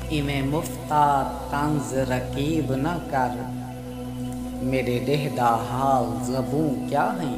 ایویں مفتا طنز رقیب نہ کر میݙے ݙیہہ دا حال زبوں کیا ہئیں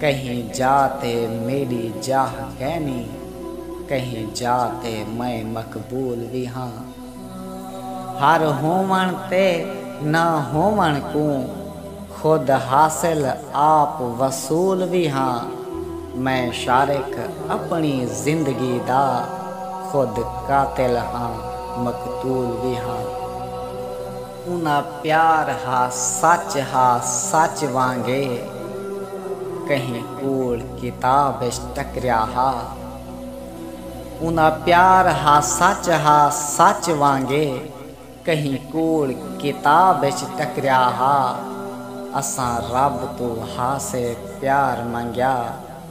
کہیں جاہ تے میݙی جاہ کینی کہیں جاہ تے میں مقبول وی ہاں ہر ہووݨ تے نہ ہووݨ کوں خود حاصل آپ وصول وی ہاں میں شارک اپݨی زندگی دا خود قاتل ہاں مقتول وی ہاں۔ انہاں پیار ہا سچ ہا سچ وانگے کہیں کوڑ کتاب اچ ٹکریا ہا انہاں پیار ہا سچ ہا سچ وانگے کہیں کوڑ کتاب اچ ٹکریا ہا اساں رب توں ہا سے پیار منگیا۔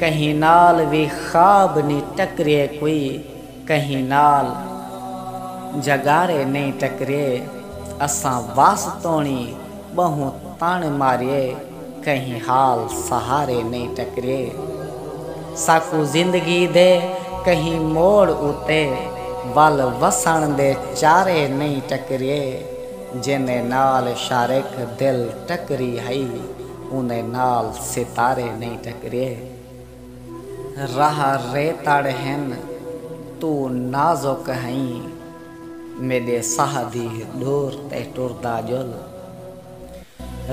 کہیں نال وی خواب نی ٹکریے کوئی کہیں نال جھگارے نئیں ٹکریے اساں وس توڑیں ٻہوں تݨ ماریے کہیں حال سہارے نئیں ٹکریے ساکوں زندگی دے کہیں موڑ اتے ول وسݨ دے چارے نئیں ٹکریے جیندے نال شارق دل ٹکری ہئی اوندے نال ستارے نئیں ٹکرئے۔ راہ ریتڑ ہن توں نازک ہئیں میݙے ساہ دی ݙور تے ٹردا ڄل۔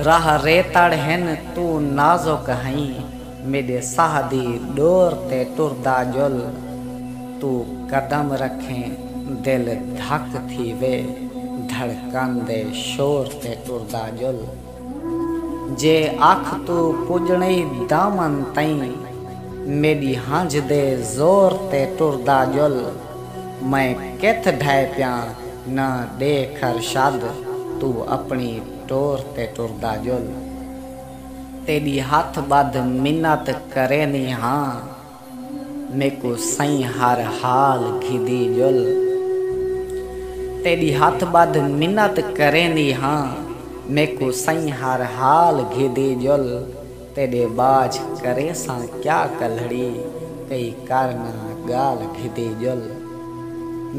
راہ ریتڑ ہن توں نازک ہئیں میݙے ساہ دی ݙور تے ٹردا ڄل توں قدم رکھیں دل دھک تھیوے دھڑکن دے شور تے ٹردا ڄل۔ جے اکھ توں پجݨئی دامن تئیں میݙی ہنجھ دے زور تے ٹردا ڄل میں کتھ ڈھئے پیاں نہ ݙے کھر شد توں اپݨی ٹور تے ٹردا ڄل تیݙی ہتھ ٻدھ منت کریندی ہاں میکوں سئیں ہر حال گھدی ڄل۔ تیݙی ہتھ ٻدھ منت کریندی ہاں۔ میکوں سئیں ہر حال گھدی ڄل۔ تیݙے ٻاجھ کریساں کیا کلھڑی کئی کر نہ ڳالھ گھدی ڄل۔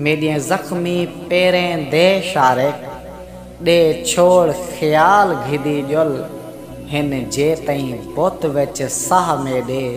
میݙیں زخمی پیریں دے شارک ݙے چھوڑ خیال گھدی ڄل۔ ہن جے تئیں بت وچ ساہ میݙے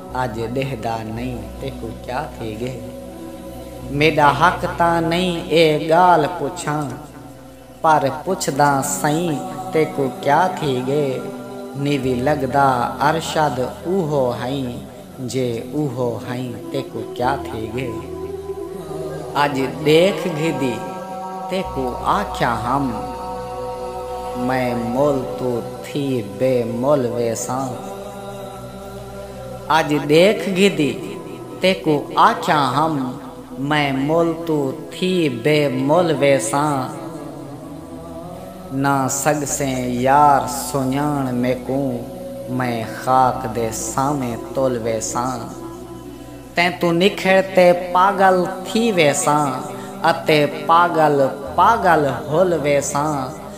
اج ڈیہدا نئیں تیکوں کیا تھی گے میڈا حق تاں نئیں اے گالھ پچھاں پر پچھداں سئیں تیکوں کیا تھی گے نیوی لگدا ارشد اوہو ہئیں جے اوہو ہئیں تیکوں کیا تھی گے اج ڈیکھ گھدی تیکوں آکھیا ہم میں مول توں تھی بے مول ویساں۔ اج ڈیکھ گھدی تیکوں آکھیاں ہم میں مل توں تھی بے مل ویساں نہ سگسیں یار سنڄاݨ میکوں میں خاک دے سانویں تل ویساں تیں توں نکھڑ تے پاڳل تھی ویساں اتے پاڳل پاڳل ہل ویساں